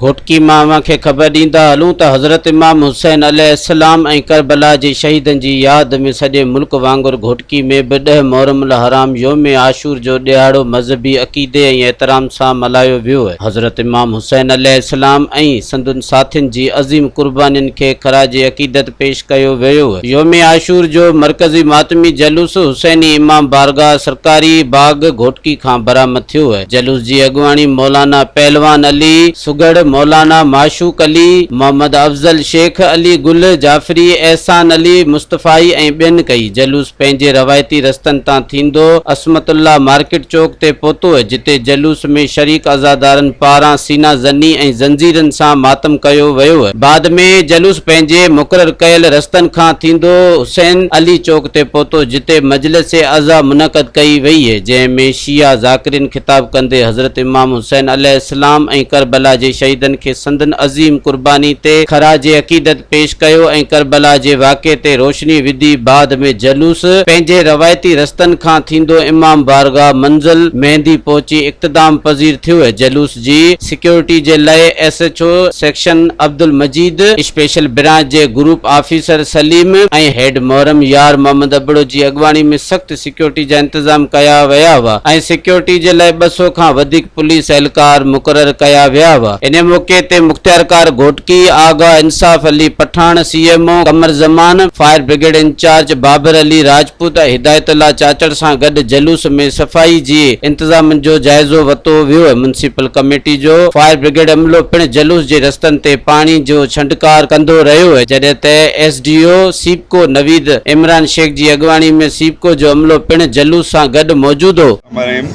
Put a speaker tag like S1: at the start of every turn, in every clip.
S1: گهوٽڪي مان اوهان کي خبر ڏيندا هلون ته حضرت امام حسين عليه السلام ۽ ڪربلا جي شهيدن جي ياد ۾ سڄي ملڪ وانگر گهوٽڪي ۾ به ڏهه محرم الحرام يوم عاشور جو ڏهاڙو مذهبي عقيدي ۽ احترام سان ملهايو ويو. حضرت امام حسين عليه السلام ۽ سندن ساٿين جي عظيم قربانين کي خراج عقيدت پيش ڪيو ويو. يوم عاشور جو مرڪزي ماتمي جلوس حسيني امام بارگاھ سرڪاري باغ گهوٽڪي کان برآمد ٿيو. جلوس جي اڳواڻي مولانا پهلوان علي سگهڙ، مولانا معشوق علي، محمد افضل شيخ، علي گل، جعفري، احسان علي، مصطفائي ۽ ٻين ڪئي. جلوس پنهنجي روايتي رستن تان ٿيندو عصمت الله مارڪيٽ چوڪ تي پهتو جتي جلوس ۾ شريڪ عزادارن پاران سينا زني ۽ زنجيرن سان ماتم ڪيو ويو بعد ۾ جلوس پنهنجي مقرر ڪيل رستن کان ٿيندو حسين علي چوڪ تي پهتو جتي مجلس عزا منعقد ڪئي وئي جنهن ۾ شيعا ذاڪرين خطاب ڪندي حضرت امام حسين عليه اسلام ۽ ڪربلا جي شهيدن کي سندن عظيم قرباني تي خراج عقيدت پيش ڪيو ۽ ڪربلا جي واقعي تي روشني وڌي بعد ۾ جلوس پنهنجي روايتي رستن کان ٿيندو امام بارگاهه منزل مهندي پهچي اقتدام پذير ٿيو جلوس جي سيڪيورٽي جي لئه S H O section Abdul Majeed special branch جي گروپ آفيسر سليم ۽ هيڊ محرم يار محمد ابڙو جي اڳواڻي ۾ سخت سيڪيورٽي جا انتظام ڪيا ويا هئا ۽ سيڪيورٽي جي لاء ٻه سؤ کان وڌيڪ پوليس اهلڪار مقرر ڪيا ويا هئا. انهيء موقعي تي مختيارڪار Ghotki, Agha Insaf Ali Pathan, C M O Qamar Zaman, fire brigade incharge Babar Ali Rajput ۽ Hidayatullah Chachar سان گڏ جلوس ۾ صفائي جي انتظامن جو جائزو وتو ويو. ميونسپل ڪميٽي جو فائر برگيڊ عملو پڻ جلوس جي رستن تي پاڻي جو ڇنڊڪار ڪندو رهيو، جڏهن ته S D O, C. SEPCO Naveed Imran Shaikh جي اڳواڻي ۾ سيپڪو جو عملو پڻ جلوس سان گڏ موجود هو. مرحيم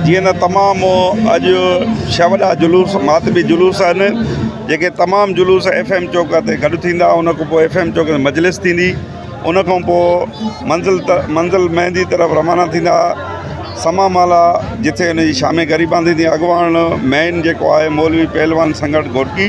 S2: جيئن ته تمام اڄ ڇهه وڏا جلوس ماتمي جلوس آهن جيڪي تمام جلوس ايف ايم چوڪ تي گڏ ٿيندا ان کان پوء ايف ايم چوڪ تي مجلس ٿيندي ان کان پوء منزل منزل مهندي طرف روانا ٿيندا سما مالا جتي ان جي شامي غريبان ٿيندي اڳواڻ مين جيڪو آهي مولوي پهلوان سنگهڙ گهوٽڪي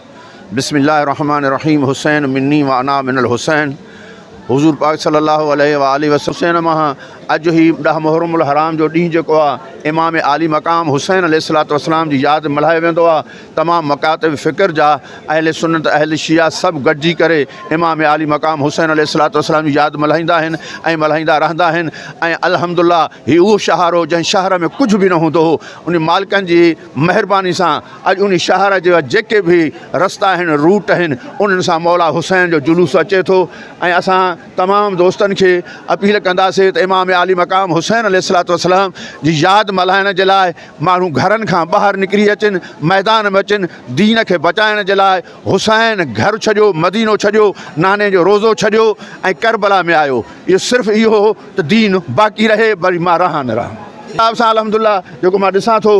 S3: بسم الله الرحمٰن الرحيم حسين مني وانا من الحسين حضور پاڪ صلي الله عليه واٰله وسلم حسين مان آهيان اڄ هي ڏهه محرم الحرام جو ڏينهن جيڪو آهي امام عالي مقام حسين عليه الصلوة والسلام جي ياد ۾ ملهايو ويندو آهي تمام مڪاتب فڪر جا اهل سنت اهل شيعه سڀ گڏجي ڪري امام عالي مقام حسين عليه الصلوة والسلام جي ياد ملهائيندا آهن ۽ ملهائيندا رهندا آهن ۽ الحمد الله هي اهو شهر هو جنهن شهر ۾ ڪجهه به نه هوندو هو ان مالڪن جي مهرباني سان اڄ ان شهر جا جيڪي به رستا آهن روٽ آهن انهن سان مولا حسين جو جلوس اچي ٿو ۽ اسان تمام دوستن کي اپيل ڪنداسين ته امام عالي مقام حسين عليه الصلوة والسلام جي ياد ملهائڻ جي لاء ماڻهو گهرن کان ٻاهر نڪري اچن ميدان ۾ اچن دين کي بچائڻ جي لاء حسين گهر ڇڏيو مدينو ڇڏيو ناني جو روضو ڇڏيو ۽ ڪربلا ۾ آيو اهو صرف اهو ته دين باقي رهي وري مان رهان نه رهان. حساب سان الحمدالله جيڪو مان ڏسان ٿو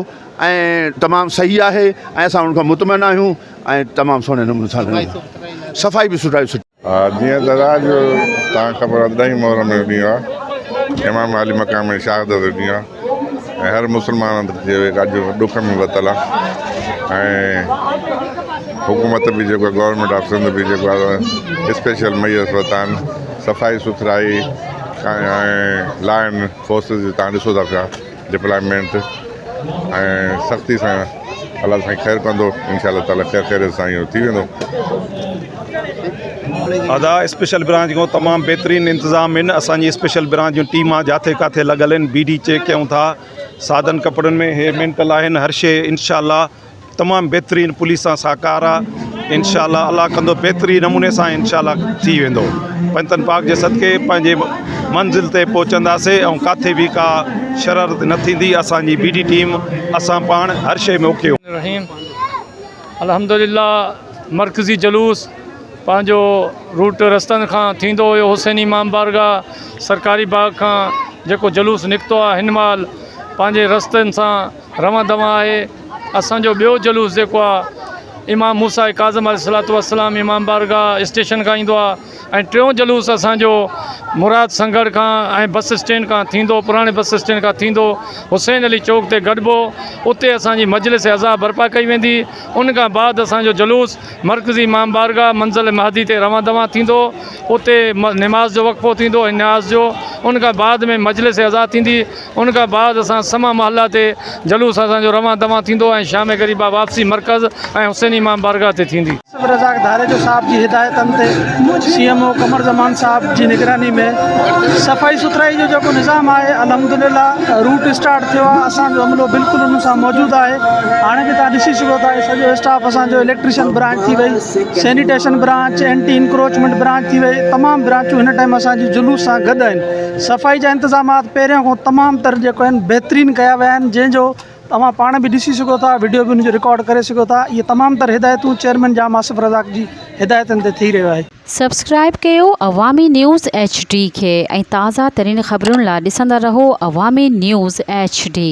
S3: ۽ تمام صحيح آهي ۽ اسان ان کان مطمئن آهيون ۽ تمام سهڻي نموني سان صفائي به سٺائي سٺي. جيئن ته رات
S4: جو توهان کي خبر آهي ڏهين محرم جو ڏينهن آهي امام عالي مقام جي شهادت جو ڏينهن آهي. ۽ هر مسلمان هنڌ جي اڄ ڏک ۾ وتل آ ۽ حڪومت به جيڪو گورنمينٽ آف سنڌ به جيڪو آ اسپيشل ميس وتان صفائي سٿرائي ۽ لائن فورسز جي تان ڏسو ٿا پيا ڊپلائمينٽ ۽ سختي سان الله سائين خير ڪندو انشاء الله تعالي خير خيريت سان اهو ٿي ويندو
S2: ادا اسپيشل برانچ کان تمام بهترين انتظام آهن اسان جي اسپيشل برانچ جون ٽيما جاٿي ڪاٿي لڳل آهن بي ڊي چيڪ ڪيون ٿا سادن ڪپڙن ۾ هي مينٽل آهن هر شيء انشاء الله تمام بهترين پوليس سان ساهڪار آهي انشاء الله الله ڪندو بهتري نموني سان انشاء الله ٿي ويندو پنجتن پاڪ جي صدقي پنهنجي منزل تي پهچنداسي ۽ ڪاٿي به ڪا شرارت نه ٿيندي اسانجي بي ڊي ٽيم اسان پاڻ هر شيء ۾ اوڪي هونداسين الرحيم الحمدلله
S5: مرڪزي جلوس پنهنجو روٽ رستن کان ٿيندو هيو حسين امام بارگاهه سرڪاري باغ کان جيڪو جلوس نڪتو آهي هن مهل پنهنجي رستن سان روان دوان آهي اسان جو ٻيو جلوس جيڪو آ امام موسيٰ ڪاظم عليه الصلوة والسلام امام بارگاھ اسٽيشن کان ايندو آ ۽ ٽيون جلوس اسان جو مراد سنگهڙ کان ۽ بس اسٽينڊ کان ٿيندو پراڻي بس اسٽينڊ کان ٿيندو حسين علي چوڪ تي گڏبو اتي اسان جي مجلس عزا برپا ڪئي ويندي ان کان بعد اسان جو جلوس مرڪزي امام بارگاھ منزل مهدي تي روان دوان ٿيندو اتي نماز جو وقفو ٿيندو ۽ نياز جو ان کان بعد ۾ مجلس عزا ٿيندي ان کان بعد اسان سما محله تي جلوس اسان جو روان دوان ٿيندو ۽ شام گھڙي بعد واپسي مرڪز ۽ حسين امام بارگاھ تي ٿيندي. آصف الرزاق ڌاريجو
S6: صاحب جي هدايتن تي سي ايم او قمر زمان صاحب جي نگراني ۾ صفائي سٿرائي جو جيڪو نظام آهي الحمدلله روٽ اسٽارٽ ٿيو آهي اسان جو عملو بلڪل ان سان موجود آهي هاڻي به توهان ڏسي سگهو ٿا هي سڄو اسٽاف اسان جو اليڪٽريشن برانچ ٿي وئي sanitation branch anti encroachment branch ٿي وئي تمام برانچون هن ٽائيم اسان جي جلوس سان گڏ آهن صفائي جا انتظامات پهريان کان تمام تر جيڪو آهن بهترين ڪيا ويا آهن جنهن جو توهان پاڻ به ڏسي سگهو ٿا وڊيو به ان جو رڪارڊ ڪري سگهو ٿا اهي تمام تر هدايتون چيئرمين جام آصف رزاق جي هدايتن تي ٿي رهيو آهي. سبسڪرائيب ڪيو
S7: عوامي نيوز ايڇ ڊي کي ۽ تازا ترين خبرن لا ڏسندا رهو عوامي نيوز ايڇ ڊي.